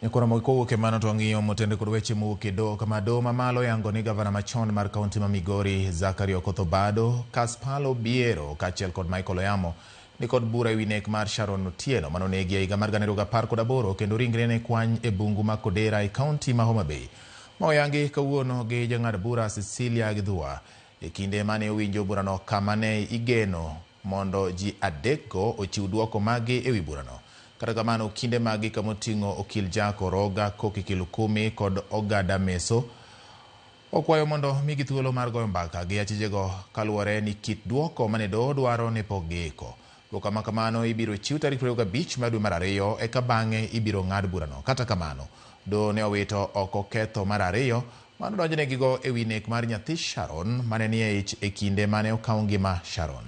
Ekora moko kowuok e mano to wang'iyo motende kod weche mowuok e doho kama doho mamalo yango ni gavana machon mar kaunti ma Migori Zachary Okoth Obado, Kaspal Obiero kaachiel kod Michael Oyamo ni kod bura ewi nek mar Sharon Otieno mane onegi e higa mar gana ariyo gi apar kod aboro kendo ringre ne kwany e bungu ma Kodera e kaunti ma Homa Bay. Ma oyangi kawuono gi jang'ad bura Cecilia Githua e kinde mane owinjo burano kama ne igeno mondo ji adekgo ochiw dwoko maggi e wi burano. Kata kamano, okinde maggi kama oting'o okil Jack Oroga, Koki Kilukumi kod Ogada Meso okwayo mondo omigi thuolo mar goyo mbaka gi achijego kaluwore ni kit dwoko mane doho dwaro ne pok giiko. Dwoko ma kamano ibiro chiw tarik 25 mar dwe mar ariyo eka bang'e ibiro ng'ad burano. Kata kamano, doho ne owito oko ketho mar ariyo Mano donjnegigo e wi nek mar nyathi Sharon ma ne nie ich e kinde ma ne okaw ngima Sharon.